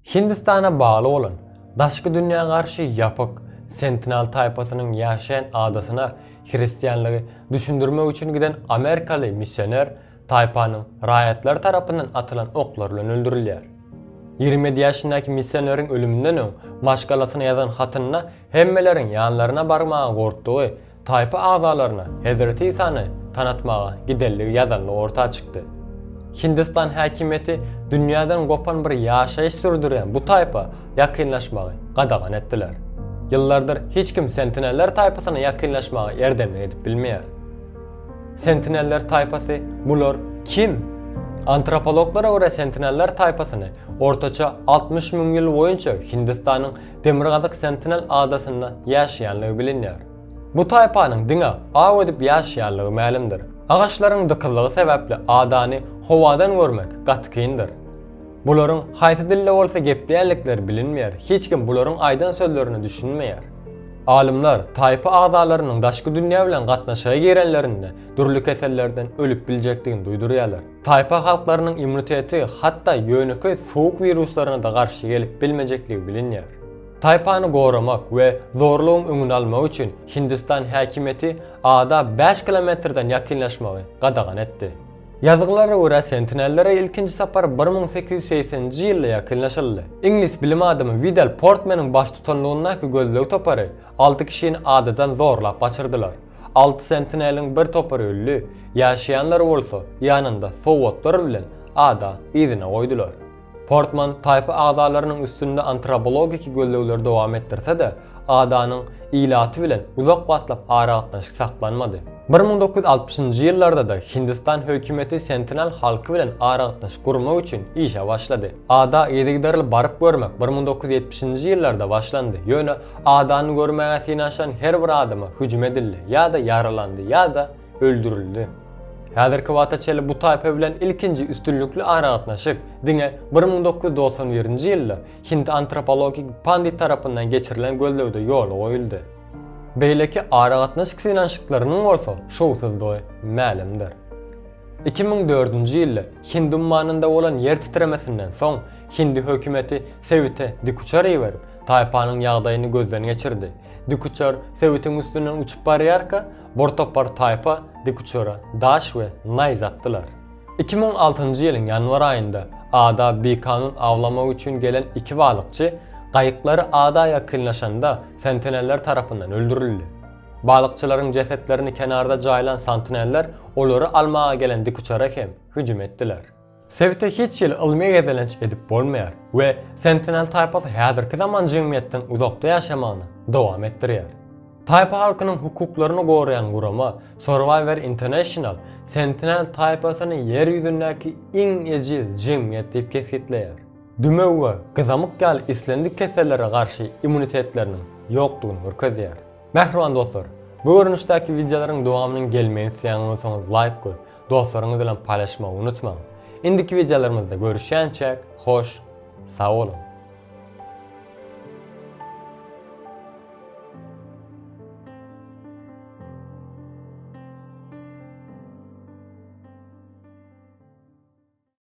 Hindistana bagly bolan, daşky dünýä garşy ýapyk Sentinal taýpasynyň ýaşaýan adasyna hristianlygy düşündirmek üçin giden amerikaly missioner taýpanyň raýatlary tarapyndan atylan oklar bilen öldürilýär. Ýigrimi ýedi ýaşyndaky missioneriň ölüminden öň maşgalasyna ýazan hatynda hemmeleriň ýanlaryna barmaga gorkdugy, Taýpa agzalaryna Hezreti Isany tanatmaga gidenligi ýazanlygy orta çykdy. Hindistan häkimiýeti dünýäden gopan bir ýaşaýyş sürdürýän bu taýpa ýakynlaşmagy gadagan etdiler. Ýyllardyr hiç kim Sentineller taýpasyna ýakynlaşmaga erdemlik edip bilmeýär. Sentineller taýpasy bular kim? Antropologlara görä Sentineller taýpasyny ortaça altmyş müň ýyl boýunça Hindistanyň Demirgazyk Sentinel adasynda ýaşaýanlygy bilinýär. Bu taýpanyň diňe aw edip ýaşaýanlygy mälimdir. Agaçlaryň dykyzlygy sebäpli adany howadan görmek gaty kyndyr. Bularyň haýsy dilde bolsa gepleýänlikleri bilinmeýär, hiç kim bularyň aýdan sözlerine düşünmeýär. Alymlar taýpa agzalarynyň daşky dünýä bilen gatnaşyga girenlerinde dürli kesellerden ölüp biljekdigini duýdurýarlar. Taýpa halklarynyň immuniteti hatda ýönekeý sowuk wiruslaryna-da garşy gelip bilmejekligi bilinýär. Taýpany goramak we zorlugyň öňüni almak üçin Hindistan häkimiýeti ada bäş kilometrden ýakynlaşmagy gadagan etdi. Ýazgylara görä, Sentinellere ilkinji sapar bir müň sekiz ýüz segseninji ýylda ýakynlaşyldy. Iňlis bilim adamy Widal Portmeniň baştutanlygyndaky gözleg topary alty kişini adadan zorlap gaçyrdylar. Alty sentineliň bir topary öldi, ýaşaýanlary bolsa ýanynda sowgatlar bilen ada yzyna goýdular. Portman taýpa agzalarynyň üstünde antrobologiki gözlegleri dowam etdirse-de, adanyň ilaty bilen uzak wagtlap aragatnaşyk saklanmady. Bir müň dokuz ýüz altmyşynjy ýyllarda-da Hindistan hökümeti sentinel halky bilen aragatnaşyk gurmak üçin işe başlady. Ada yzygiderli baryp görmek bir müň doküz ýüz ýetmişinji ýyllarda başlandy, ýöne Adany görmäge synanyşan her bir adama hüjüm edildi, ýa-da ýaralandy, ýa-da öldürildi. Häzirki wagta çenli bu taýpa bilen ilkinji üstünlikli aragatnaşyk diňe bir müň dokuz ýüz togsan birinji ýylda Hind antropologik pandit tarapyndan geçirilen gözlegde ýola goýuldy. Beýleki aragatnaşyk synanyşyklarynyň bolsa şowsuzdygy mälimdir. Iki müň dördünji ýylda Hind ummanynda bolan ýer titremesinden soň, hindi hökümeti sebite dikuçar iberip, Taýpanyň ýagdaýyny gözden geçirdi. Dikuçar sebitiň üstünden uçup barýarka, bir topar taýpa dikuçara daş we naýz atdylar. Iki müň altynjy ýylyň ýanwar aýynda ada bikanun awlamak üçin gelen iki balykçy gaýyklary ada ýakynlaşanda sentineller tarapyndan öldürildi. Balykçylaryň jesetlerini kenarda jaýlan santineller olary almaga gelen dikuçara hem hüjüm etdiler. Sebite hiç hili ylmy gezelenç edip bolmaýar we Sentinel taýpasy häzirki zaman jemgyýetden uzakda ýaşamagyny dowam etdirýär. Taýpa halkynyň hukuklaryny goraýan gurama Survivor International Sentinel taýpasyny ýer ýüzündäki iň ejiz jemgyýet diýip kesgitleýär. Dümew we gyzamyk ýaly islendik kesellere garşy immunitetleriniň ýokdugyny görkezýär. Mähriban dostlar, bu görnüşdäki wideolaryň dowamynyň gelmegini isleýän bolsaňyz laýk goýup, Dostlaryňyz bilen paýlaşmagy unutmaň! Indiki wideolarymyzda görüşýänçäk, hoş, sag boluň!